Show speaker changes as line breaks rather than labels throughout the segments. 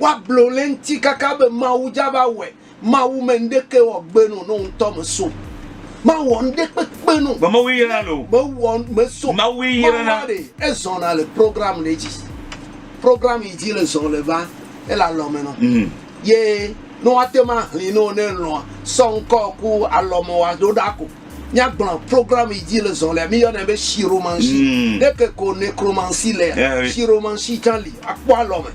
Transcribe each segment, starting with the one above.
Woablo le ŋti kaka be Mawu dza va wɔe. Mawu me ŋɖekɛ wɔ gbe no no ŋtɔ me so. Ma wɔ ŋɖe kpekpe no. Be Mawu yra no. Me wɔ me so. Mawu yra na. Mawu e zɔn na le program le dzi. Program yi dzi le zɔn le va ele alɔme no. Mm. Ye no ate ma hli no ne lɔa sɔ ŋkɔ ku alɔme wa do da ko. Míagblɔ programme yi dzi le zɔ lea, míyɔnɛ be chiromancie. Mm. Ne ke ko necromancie lea, yeah, oui. chiromancie tsã li. Akpɔ alɔme.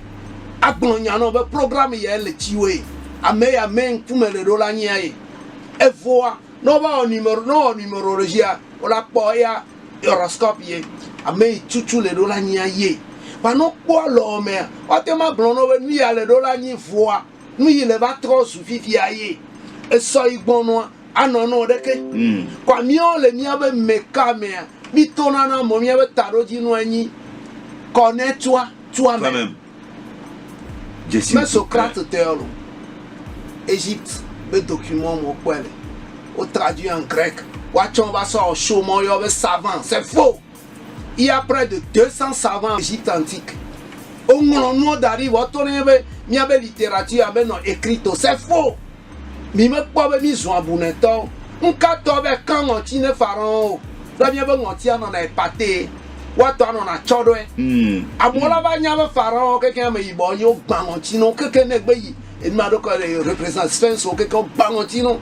Agblɔ nya nɔ be programme yae le tsiwoe. Ame ya mɛ ŋkume le ɖo la nyia ye. Evoa, ne wova wɔ numéro, ne wɔ numéro ɖe dzia, wo la kpɔ eya horoscope ye. Ame yi tutu le ɖo la nyia ye. Ba ne wokpɔ alɔmea, woate ŋu agblɔ nɔ be nuya le ɖo la nyi voa, nuyi le va trɔ zu fifia ye. Esɔ yi gbɔnɔa, Anɔ nɔ ɖeke. Mm. Kɔa míawo le míabe meka mea, mí to nana mɔ míabe taɖodzinu anyi kɔ ne tua, tua mɛ. Famem. Jesi. Mɛ Socrate tɛɔ lo. Egypte be document mɔ kpɔɛ le. Wo traduit en grec. Wa tsɔ va sɔ show mɔ yɔ be savant. C'est faux. Il y a près de 200 savants en Egypte antique, woŋlɔ nuwo da ɖi vɔ woto ɖe míaƒe, míaƒe littérature menɔ écrite o, c'est faux! Mi mekpɔ be mí zu abunɛtɔwo, ŋka tɔ be kan ŋɔti ne Pharaon o, ɖe míaƒe ŋɔti anɔna epate, woatɔ anɔ na tsɔ ɖɔɛ. Amewo la va nya be Pharaon kekeŋ ame yibɔ wonye, wo gba ŋɔti na wo kekeŋ ne egbe yi enuma ɖokɔ le represent Sphinx wo kekeŋ wo gba ŋɔti na wo,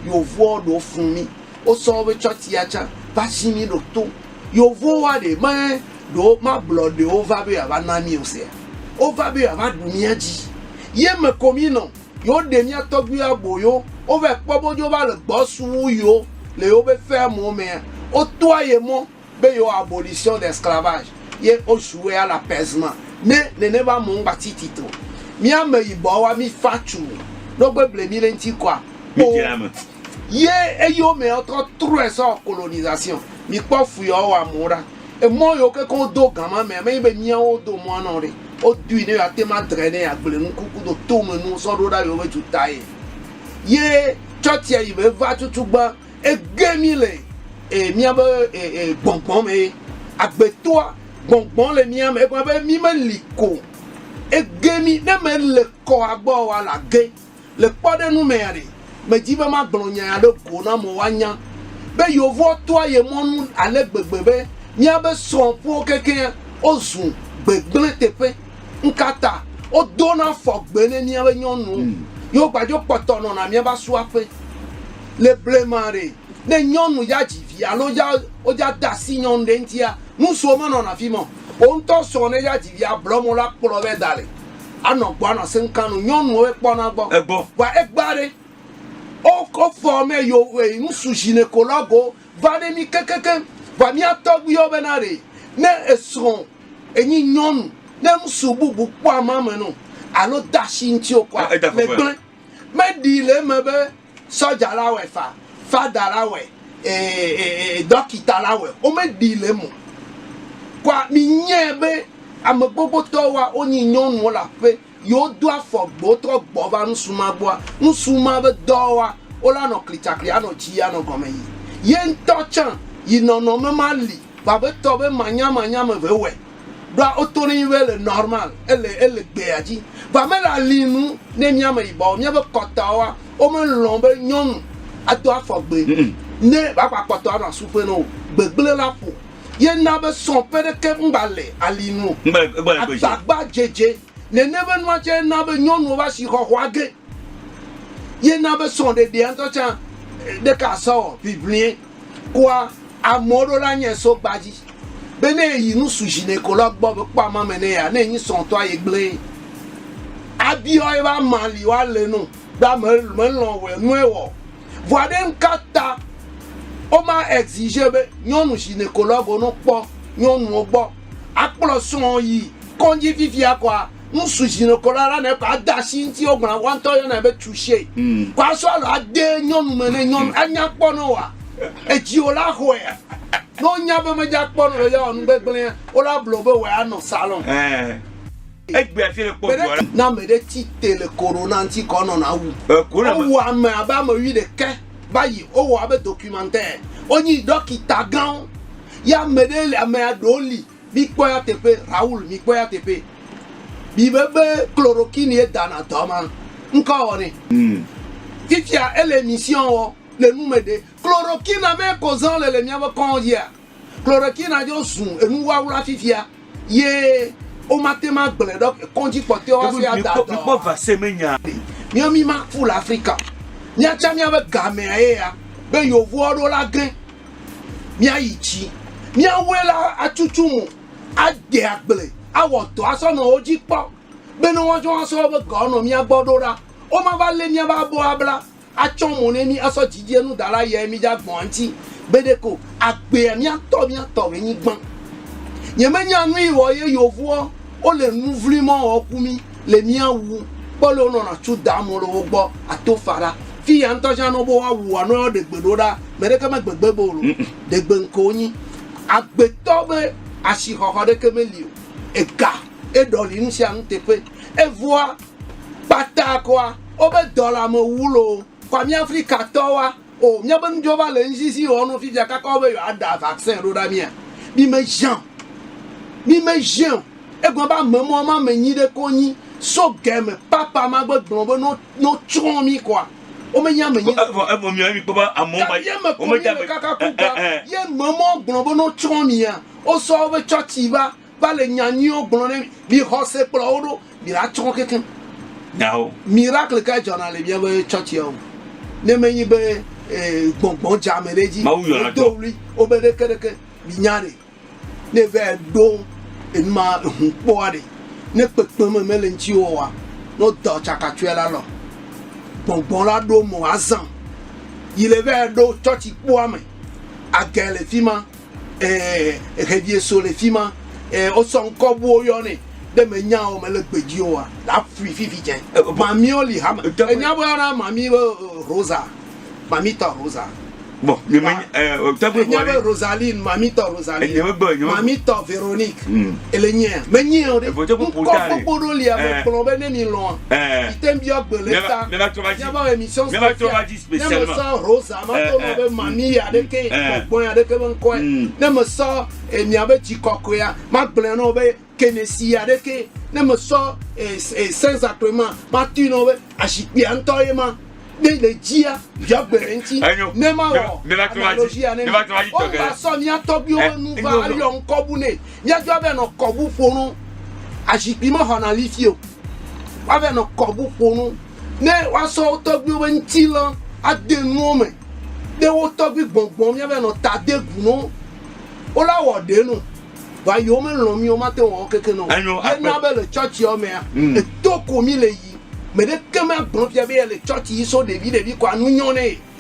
Yovoɔ ɖewo fun mí. Wo sɔ be tsɔ tia tsa va zi mi ɖo to yovo wa ɖe me ɖo ma blɔ ɖe wo va be ava na mi o sea? Wo va be ava ɖu mia dzi ye me ko mi nɔ yo ɖe mia tɔgbi wa bo yo wo va kpɔ bo dzo va le gbɔ su wu yo le yo be fea mo mea wo toa ye mɔ be yewo abolition de esclavage ye o jouer à la paisement ne nene va mo ŋgba tsi tsi tro mi ame yibɔ wa mi fa tsu ɖo gbe ble mi le ŋtsi kɔa mi dze ame ye eyo me ɔ trɔ trɔe sɔ colonisation mi kpɔ fu yɔ wa mo ɖa emɔ yo ke ko do gama mea me nyi be mia wo do mɔa nɔ ɖe o dui ne yo a te ma dre ne ya gble nuku ku do to me nuwo sɔ ɖo ɖa yo be dzu ta ye ye tsɔ tsia yi be va tutu gba. Egbee mi le e, miabe e, e, gbɔngbɔn me. Agbetɔa gbɔngbɔn le mia me. Egɔme be mi meli ko. Ege mi ne me le kɔ agbɔ wa la ge. Le kpɔɖenu mea ɖe, me dzi be ma gblɔ nya ya ɖe go na mo wa nya be yevoa toa ye mɔnu ale gbegbe be miabe srɔ̃ ƒuwo keke o zu gbegblẽ teƒe. Nkata o dona fɔ gbe ne miabe nyɔnuwo. Hmm. Yo gbadzo kpɔtɔ nɔna miaba suaƒe. le blema ɖe, ne nyɔnu ya dzi vi alo ya wodza de asi nyɔnu ɖe ŋutia, nu srɔ̃ menɔna afi ma o. Wo ŋutɔ srɔ̃ ne ya dzi via blɔ mɔ la kplɔ vɛ da le anɔ gbɔ anɔ asem kan nu nyɔnuwo ekpɔna gbɔ. Egbɔ. Vɔa egba ɖe wo wofɔ mɛ yo e, ŋsu ʒinekolago va ɖe mí kekekeŋ. Vɔa mía tɔgbuiwo bena ɖe ne esrɔ̃ enyi nyɔnu ne ŋsu bubu kpɔ amame nɔ alo de asi ŋuti o kɔa, Eda le veve. gblẽ. Meɖi le eme be Sɔdza la wɔe fa, fada la wɔe, dɔkita la wɔe, womeɖii le eme o. Kɔa minyae be ame gbogbootɔ wa wonyi nyɔnuwo le aƒe yewo do afɔ gbewo trɔ gbɔ va nusrɔ̃mea gbɔa, nusrɔ̃mea be dɔ wa wola nɔ klitsakli anɔ dzi anɔ gɔme yi. Ye ŋutɔ tsã yi nɔnɔme ma li vabetɔ be manyamanya me ve wɔe. ɖoa woto ne be le normal ele ele gbea dzi vɔ ame le ali nu ne mía me yibɔ míaƒe kɔtɔawoa womelɔ̃ be nyɔnu ado afɔ gbe ne baba kɔtɔ anɔ asuƒe no gbegble la ƒo ye na be sɔ ƒe ɖeke ŋgba le ali nu agbagba dzedze nene be nua tsɛ na be nyɔnuwo va si xɔxɔa ge ye na be sɔ ɖeɖea ŋutɔ tsã ɖeka asɔ ʋiʋlie Kua amɔ ɖo la nyɛ so gbadji be ne eyi nu su dji nɛ ko la gbɔ be kpɔ ama me nɛ ya ne enyi sɔn tɔ aye gblɛɛ abiɔ ebe ama li wa le no be ame me lɔn wɛ nu ewɔ vɔa ɖe nuka ta wo ma exige be nyɔnu djinekologue wo no kpɔ nyɔnuwo gbɔ akplɔ sɔn yi kɔndji fifia kɔa. ŋsu ʒinokɔ ɖa la nɛ kɔ ade asi ŋuti wogblɔna woa ŋutɔ yɔnɛ be touche mm. kɔ asɔ alɔ ade nyɔnu me ne nyɔnu mm. anya kpɔ ne wa edziwo la xɔe ne wonya be medza kpɔ ne le yawɔ nu gbegblẽ wola blo be wòe anɔ salon eh. egbe afi le kpɔ dua na ame ɖe ti te le korona ŋuti kɔ nɔna wu eh, wowu ame abe ame wi ɖeke va yi wowɔ abe documentaire wonyi dɔkita gãwo ya ame ɖe ame aɖewo li Mikpɔ ya teƒe Raoul mikpɔ ya teƒe mi be be chloroquine ye da na dɔ ma ŋkɔ wɔ ne fifia ele mission wɔ le nu me ɖe chloroquine na me ko zan le le mia be kɔn yia chloroquine na jo zu enu wawla fifia ye o ma te ma gble ɖɔ kɔn dzi kpɔ teo asi ada dɔ mi kpɔ vase me nya mia mi ma fu le Africa mia tsa mia be ga mea ye ya be yovoa ɖo la gre. míayi dzi. Míawoe la atutu mo, ade agble, awɔ dɔ asɔ nɔ wo dzi kpɔ be ne woatsɔ asɔ woƒe gawo nɔ mía gbɔ ɖo ɖa, womava lé míaƒe abɔwo abla atsɔ mo ne mí asɔ dzidzenu da ɖe ayae mí dze agbɔ̃a ŋuti be ɖeko o. Agbea míatɔ míatɔ be nyigban. Nyemenya nui wɔ ye yovua wole nu vli mɔ wɔ ku mí. le mía wu kpɔ le wonɔ na tu da mɔ le wo gbɔ ato fa ɖa fi ya ŋutɔ ʒan nɔ be woa wu anɔ yɔ ɖegbe ɖo ɖa mɛ ɖeke me gbegbe be wolo ɖegbe ŋke wonyi agbetɔ be ashixɔxɔ ɖeke me li o ega eɖɔli nusianu teƒe evɔa kpata kɔa wobe dɔlame wu loo kɔa mía afrika tɔwoa. O, míabe nudzɔva le ŋsisi wɔm nɔ fifia kaka wo be yewoada vaccin ɖo ɖa mía. Mimeʒiã o. Mimeʒiã o. Egblɔ be ame mawo ma me nyi ɖe ko nyi so ge me papa ma gbe gblɔ be no no tsrɔ̃ mí kɔa womenyi ame nyi ɖe ko. Evɔ evɔ miɔɛ mikpɔ be amewo ma Gake eme Va le nya nyuiwo gblɔ ne mi xɔse kplɔ wo ɖo mi la tsɔ kekeŋ. Nyawo. Miracle ka dzɔna le miabe tsɔtsia o ne menyi be eh, gbɔngbɔn dze ame ɖe edzi. Mawu yɔna do wli wobe ɖeke ɖeke mi nya ɖe ne va ɖo enuma ehu kpɔa ɖe ne kpekpe me mele ŋuti wɔwa ne wodɔ tsakatsɔe la lɔ gbɔngbɔn la ɖo mo azã yi le va ɖo tsɔtsi kpɔa me age le fima eh, hedie so le fima, eh, osɔ ŋkɔ buwo yɔ ne, ɖe me nya o, me le gbedzi o wa, la fui fifi cɛ, mami o li hama, enya bo yana mami be eh, Rosa, mami tɔ Rosa. Bon, nye me, eh, tɛgbe bɔ le. Rosaline, mami tɔ Rosaline. Nye me gbɔ, nye me. Mami tɔ Véronique. Hmm. Ele nye, me nye o de. Evo tɛgbe po ta le. Ŋkɔ kpokpo do lia, me kplɔ be ne mi lɔa. Eh. Ite mbiɔ gbele ta. Mɛ ba tɔ ba dzi. Mɛ ba tɔ ba dzi. ne mesɔ Rosa va do nɔ be mami ya ɖe ke kpɔkpɔ ya ɖe ke be ŋkɔe ne mesɔ emia be tsi kɔkɔe ya ma gblɔe nɔ be kenesi ya ɖe ke ne mesɔ senza kɔe ma ma tui nɔ be azikpia ŋutɔ ye ma ne le dzia ya gbe le ŋuti ne ma wɔ analogi ya ne mi o ma sɔ mia tɔgbiwo be nu va ayɔ ŋkɔbu ne mia dzɔ be nɔ kɔbu ƒo no azikpi ma xɔna lifi o wa be nɔ kɔbu ƒo no Ne woasɔ wo tɔgbuiwo ƒe ŋutilã ade nuwo me, ɖe wo tɔgbui gbɔngbɔn míava nɔ ta de gu nɔ wo la wɔ ɖe nɔ va yewo me lɔn mí o mate ŋu awɔ keke nɔ wo. Ye na be le churchia mea, eto ko mí le yi. Meɖe ke ma gblɔ fia be yele church yi so ɖevi ɖevi kɔa nu nyɔ ne ye.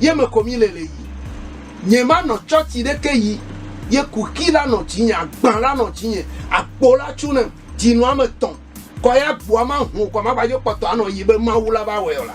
ye me ko mi le le yi. Nye ma nɔ tsɔtsi ɖe ke yi, ye kuxi la nɔ dzi nye, agba la nɔ dzi nye, akpo la tsu nem, dzi nɔ ame tɔn, kɔ ya gbua ma hon kɔ ma gbadzo kpɔtɔ anɔ yi be Mawu la va wɛ o la.